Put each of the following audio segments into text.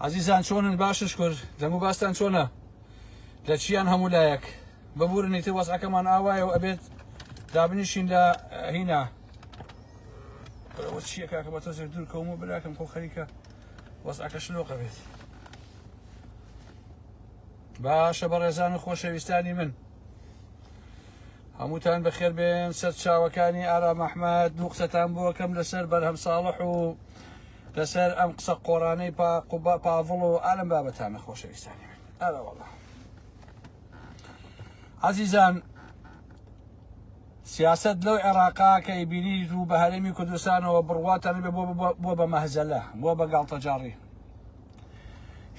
عزیزان چۆنن باشش کرد دەمو باستان چۆنە لە چیان هەموو لایەک ببورنی تر وەزعەکەمان ئاوایە و ئەبێت دابنیشین لە هینا چیە کاکە بە تۆزێک دوور کەوم و براکەم خۆ خەریکە وەزعەکە شلۆقە بێت باشە بە ڕێزان و خۆشەویستانی من هەمووتان بەخێر بێن سەر چاوەکانی ئارام ئەحمد دوو قسەتان بۆکەم لەسەر بەرهەم ساڵح و لەسەر ئەم قسە قۆڕانەی پا قوبا پاڤڵ و ئالم بابەتانە خۆشەویستانی من ئەرە وەڵا عزیزان سیاست لەو عێراقا کە ئیبینی و بە هەرێمی کوردستانەوە بڕواتان بە بۆ بە مەهزەلە بۆ بە گاڵتەجاڕی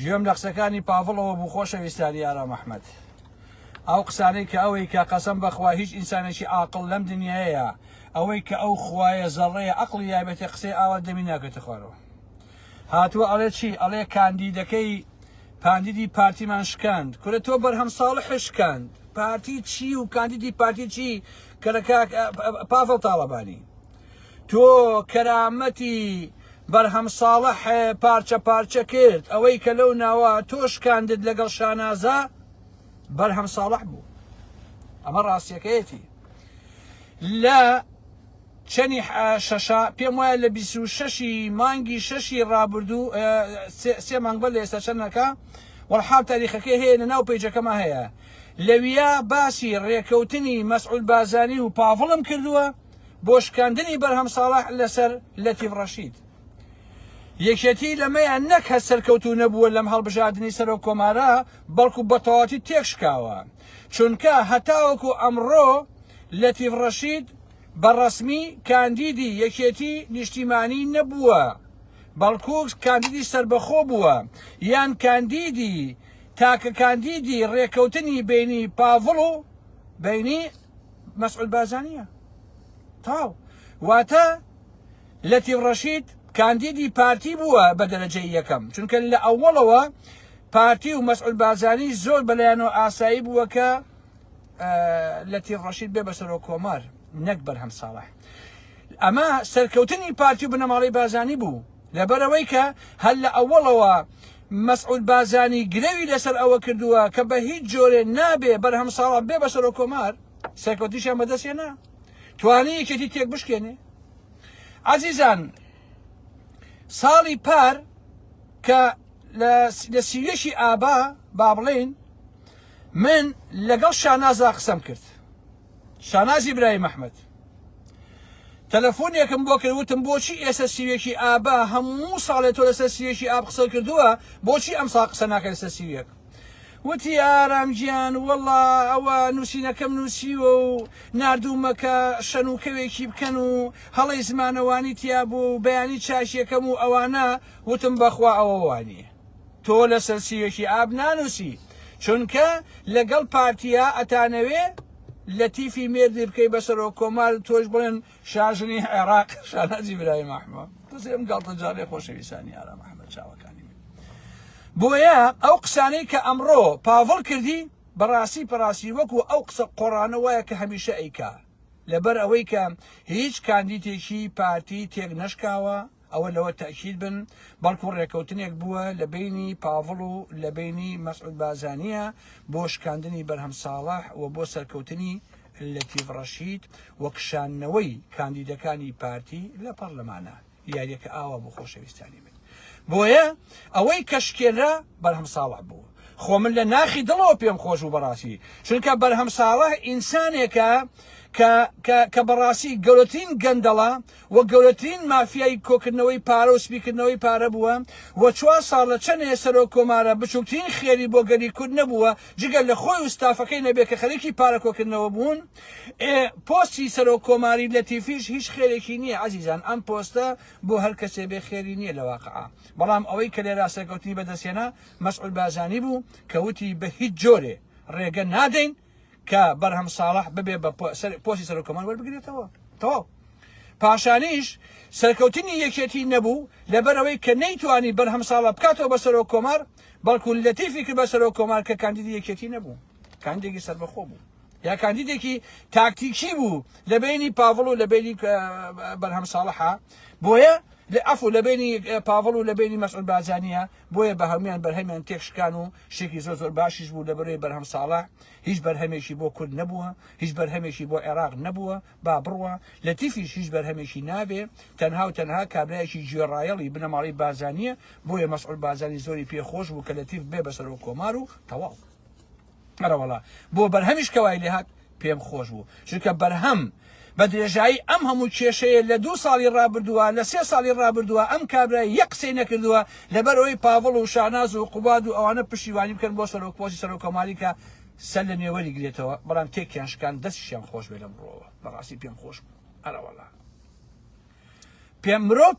ژێم لە قسەکانی پاڤڵەوە بوو خۆشەویستانی ئارام ئەحمد ئەو قسانەی کە ئەوەی کە قەسەم بەخوا هیچ ئینسانێکی عاقڵ لەم دنیایەیە ئەوەی کە ئەو خوایە زەڕەیە ئەقڵی یابێتێ قسەی ئاوا دەمی ناکەتە خوارەوە هاتووە ئەڵێ چی ئەڵێ کاندیدەکەی پاندیدی پارتیمان شکاند کورە تۆ بەرهەم ساڵ حشکاند پارتی چی و کاندیدی پارتی چی کە لە کاک پاڤڵ تاڵەبانی تۆ کەرامەتی بەرهەم ساڵح پارچە پارچە کرد ئەوەی کە لەو ناوە تۆ شکاندت لەگەڵ شانازە بەرهەم ساڵح بوو ئەمە ڕاستیەکەیەتی لە چەنی شەشا پێم وایە لە 26 مانگی شەشی ڕابردوو سێ مانگ بە لە ئێستا چەندەکە وەڵحاب تاریخەکەی هەیە لە ناو پیجەکەمە هەیە لەویا باسی ڕێکەوتنی مەسعود بازانی و پاڤڵم کردووە بۆ شکاندنی بەرهەم ساڵح لەسەر لەتیف ڕەشید یەکێتی لەمەیان نەک هەر سەرکەوتو نەبووە لەم هەڵبژاردنی سەرۆک کۆمارە بەڵکو بەتەواتی تێک شکاوە چونکە هەتاوەکو ئەمڕۆ لەتیف ڕەشید بە ڕەسمی کاندیدی یەکێتی نیشتیمانی نەبووە بەڵکو کاندیدی سربەخۆ بووە یان کاندیدی تاکە کاندیدی ڕێکەوتنی بینی پاڤڵ و بینی مەسعود بارزانیە تاو واتە لەتیب ڕەشید کاندیدی پارتی بووە بە دەرەجەی یەکەم چونکە لە ئەوەڵەوە پارتی و مەسعود بازانی زۆر بەلایەنەوە ئاسایی بووە کە لە تیر ڕەشید بێ بەسەرۆ کۆمار نەک بەرهەم ساڵح ئەمە سەرکەوتنی پارتی و بنەماڵی بازانی بوو لەبەرئەوەی کە هەر لە ئەوەڵەوە مەسعود بارزانی گرەوی لەسەر ئەوە کردووە کە بە هیچ جۆرێ نابێ بەرهەم ساڵح بێ بە سەرۆک کۆمار سەرکەوتنیشیان بەدەستێنا توانی یەکێتی تێک بشکێنێ عزیزان ساڵی پار کە لە سیوێکی ئابا با بڵێن من لەگەڵ شانازا قسەم کرد شاناز ئیبراهیم ئەحمەد تەلەفۆنێکم بۆ کرد وتم بۆچی ئێستا سیوێکی ئابا هەموو ساڵێ تۆ لەسەر سیوێکی ئاب قسە کردووە بۆچی ئەم ساڵ قسە ناکە لەسەر سیوێک وتی ئارام گیان وەڵا ئەوە نووسینەکەم نووسیوە و نردوومەکە شەنوکەوێکی بکەن و هەڵی زمانەوانی تیا بوو و بەیانی چاشیەکەم و ئەوانە وتم بەخوا ئەوەوانی تۆ لەسەر سیوێکی ئاب نانوسی چونکە لەگەڵ پارتیا ئەتانەوێ لە تیفی مێردی بکەی بەسەرۆ کۆمار تۆش بڵێن شاژنی عێراق شانازی برای مەحمە دەزێم گڵتە جارێ خۆشەویستانی ئارا مەحمە چاوەکانی من بۆیە ئەو قسانەی کە ئەمڕۆ پاڤڵ کردی بەڕاستی پەڕاستی وەکو ئەو قسە قۆڕانە وایە کە هەمیشە ئەیکا لەبەر ئەوەی کە هیچ کاندیتێکی پارتی تێک نەشکاوە ئەوە لەوە تەئکید بن بەڵکو ڕێکەوتنێک بووە لە بەینی پاڤڵ و لە بەینی مەسعود بازانیە بۆ شکاندنی بەرهەم ساڵح و بۆ سەرکەوتنی لەتیڤ ڕەشید و کشاندنەوەی کاندیدەکانی پارتی لە پەڕلەمانە یاریەکە ئاوا بوو خۆشەویستانی من بۆیە ئەوەی کە شکێنرا بەرهەم ساڵح بوو خۆ من لە ناخی دڵەوە پێم خۆش بوو بەڕاستی چونکە بەرهەم ساڵح ئینسانێکە کە کە بەڕاستی گەورەترین گەندەڵە و گەورەترین مافیای کۆکردنەوەی پارە و سپیکردنەوەی پارە بووە و چوار ساڵ لە چەند هەیە سەرۆک کۆمارە بچوکترین خێری بۆ گەلی کورد نەبووە جگە لە خۆی و ستافەکەی نەبێ کە خەریکی پارە کۆکردنەوە بوون ئێ پۆستی سەرۆک کۆماری لەتیفیش هیچ خێرێکی نیە ئەزیزان ئەم پۆستە بۆ هەر کەسێ بێ خێری نیە لە واقعا بەڵام ئەوەی کە لێرا سەرکەوتنی بەدەست هێنا مەسعود بارزانی بوو کە وتی بە هیچ جۆرێ ڕێگە نادەین کە بەرهەم ساڵح ببێ بە پۆسی سەرۆک کۆمار وەربگرێتەوە تەواو پاشانیش سەرکەوتنی یەکێتی نەبوو لەبەرەوەی کە نەیتوانی بەرهەم ساڵە بکاتەوە بە سەرۆک کۆمار بەڵکو لەتیفی کرد بە سەرۆک کۆمار کە کاندیدی یەکێتی نەبوو کاندێکی سربەخۆ بوو یا کاندیدێکی تاکتیکی بوو لە بینی پاڤڵ و لە بینی بەرهەم ساڵحە بۆیە لە ئەف و لە بینی پاڤڵ و لە بینی مەسعود بازانیە بۆیە بە هەمویان بەرهەمیان تێکشکان و شتێکی زۆر زۆر باشیش بوو لەبەرەی بەرهەم ساڵە هیچ بەرهەمێکی بۆ کورد نەبووە هیچ بەرهەمێکی بۆ عێراق نەبووە با بڕوە لە تیفیش هیچ بەرهەمێکی نابێ تەنها و تەنها کابراایکی گوێڕایەڵی بنەماڵی بازانیە بۆیە مەسعول بازانی زۆری پێ خۆش بوو کە لە تیف بێ بەسەرۆ کۆمار و تەواو مەرەوەڵا بۆ بەرهەمیش کەوای لێهات پێم خۆش بوو چونکە بەرهەم بە درێژایی ئەم هەموو کێشەیە لە دوو ساڵی ڕابردووە لە سێ ساڵی ڕابردووە ئەم کابرای یەک قسەی نەکردووە لەبەر ئەوەی پاڤڵ و شاناز و قوباد و ئەوانە پشتیوانی بکەن بۆ سەرۆک پۆستی سەرۆک کۆماری کە سەر لە نوێوەری گرێتەوە بەڵام تێکیان شکان دەستیشیان خۆش بێ لەم ڕۆوە بەڕاستی پێم خۆش بوو ئەرەوەڵا پێ مرۆڤ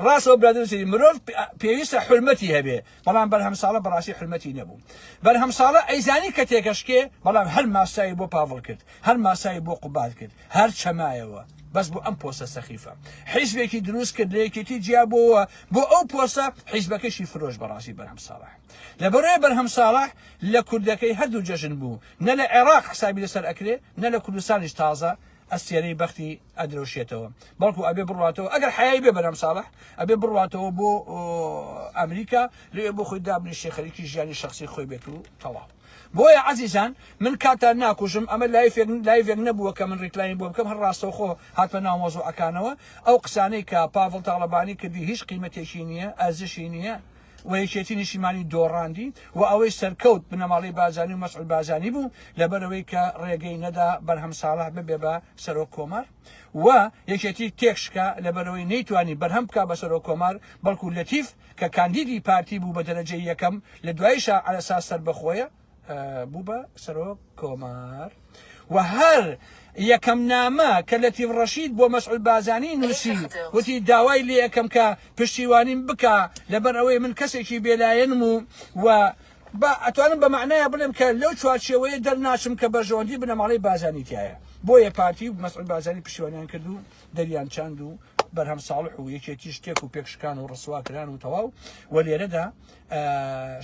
ڕاستەوە برادرسری مرۆڤ پێویستە حرمەتی هەبێ بەڵام بەرهەم ساڵە بەڕاستی حرمەتی نەبوو بەرهەم ساڵە ئەیزانی کە تێکەشکێ بەڵام هەر ماسایی بۆ پاڤڵ کرد هەر ماسایی بۆ قوبات کرد هەر چەمایەوە بەس بۆ ئەم پۆسە سەخیفە حیزبێکی دروست کرد لەیەکێتی جیا بۆوە بۆ ئەو پۆسە حیزبەکەشی فرۆش بەڕاستی بەرهەم ساڵح لەبەرۆی بەرهەم ساڵح لە کوردەکەی هەردوو جەژن بوو نە لە عێراق حسابی لەسەر ئەکرێ نە لە کوردستانیش تازە ئەستێرەی بەختی ئەدرەوشێتەوە بەڵکو ئەبێ بڕاتەوە ئەگەر حیای بێ بەرام ساڵح ئەبێ بڕاتەوە بۆ ئەمریکا لێ بۆ خۆی دابنیشی خەریکی ژیانی شخصی خۆی بێت و تەواو بۆیە عزیزان من کاتان ناکوژم ئەمە لایفێک لایڤێک نەبووە کە من ڕیکلاین بۆ بکەم هەر ڕاستەوخۆ هاتمە ناو مۆزۆعەکانەوە ئەو قسانەی کە پاڤڵ تاڵەبانی کردی هیچ قیمەتێکی نییە ئەزشی نییە و یەکێتی نیشتیمانی دۆڕاندی و ئەوەی سەرکەوت بنەماڵەی بارزانی و مەسعود بارزانی بوو لەبەرئەوەی کە ڕێگەی نەدا بەرهەم ساڵح ببێ بە سەرۆک کۆمار و یەکێتی تێکشکا لەبەرئەوەی نەیتوانی بەرهەم بکا بە سەرۆک کۆمار بەڵکو لەتیف کە کاندیدی پارتی بوو بە دەرەجەی یەکەم لە دواییشا عەلەساس سەربەخۆیە بوو بە سەرۆک کۆمار و هەر یەکەم نامە کە لە تیڤ ڕەشید بۆ مەسعود بازانی نووسی وتی داوای لێ یەکەم کە پشتیوانیم بکە لەبەر ئەوەی من کەسێکی بێلایەنم و و بە ئەتوانم بە معناە بڵێم کە لەو چوارچەوەیە دەرناچم کە بەرژەوەندی بنەماڵی بازانی تایە بۆیە پارتی و مەسعود بازانی پشتیوانیان کرد و دەریان چاند و بەرهەم ساڵح و یەکێتی شتێک و پێکشکان و ڕسواکران و تەواو و لێرەدا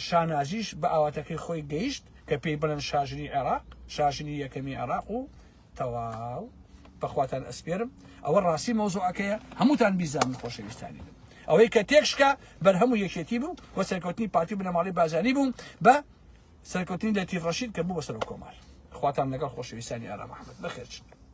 شانازیش بە ئاواتەکەی خۆی گەیشت کە پێی بڵێن شاژنی عێراق شاژنی یەکەمی عێراق و تەواو بەخواتان ئەسپێرم ئەوە ڕاستی مەوزوعەکەیە هەمووتان بیزان خۆشەویستانی بن ئەوەی کە تێکشکە بەرهەم و یەکێتی بوو وە سەرکەوتنی پارتی بنەماڵی بازانی بوو بە سەرکەوتنی لە تیڕەشید کە بوو بە سەر کۆمار خواتان لەگەڵ خۆشەویستانی ئارام ئەحمد بەخێرچن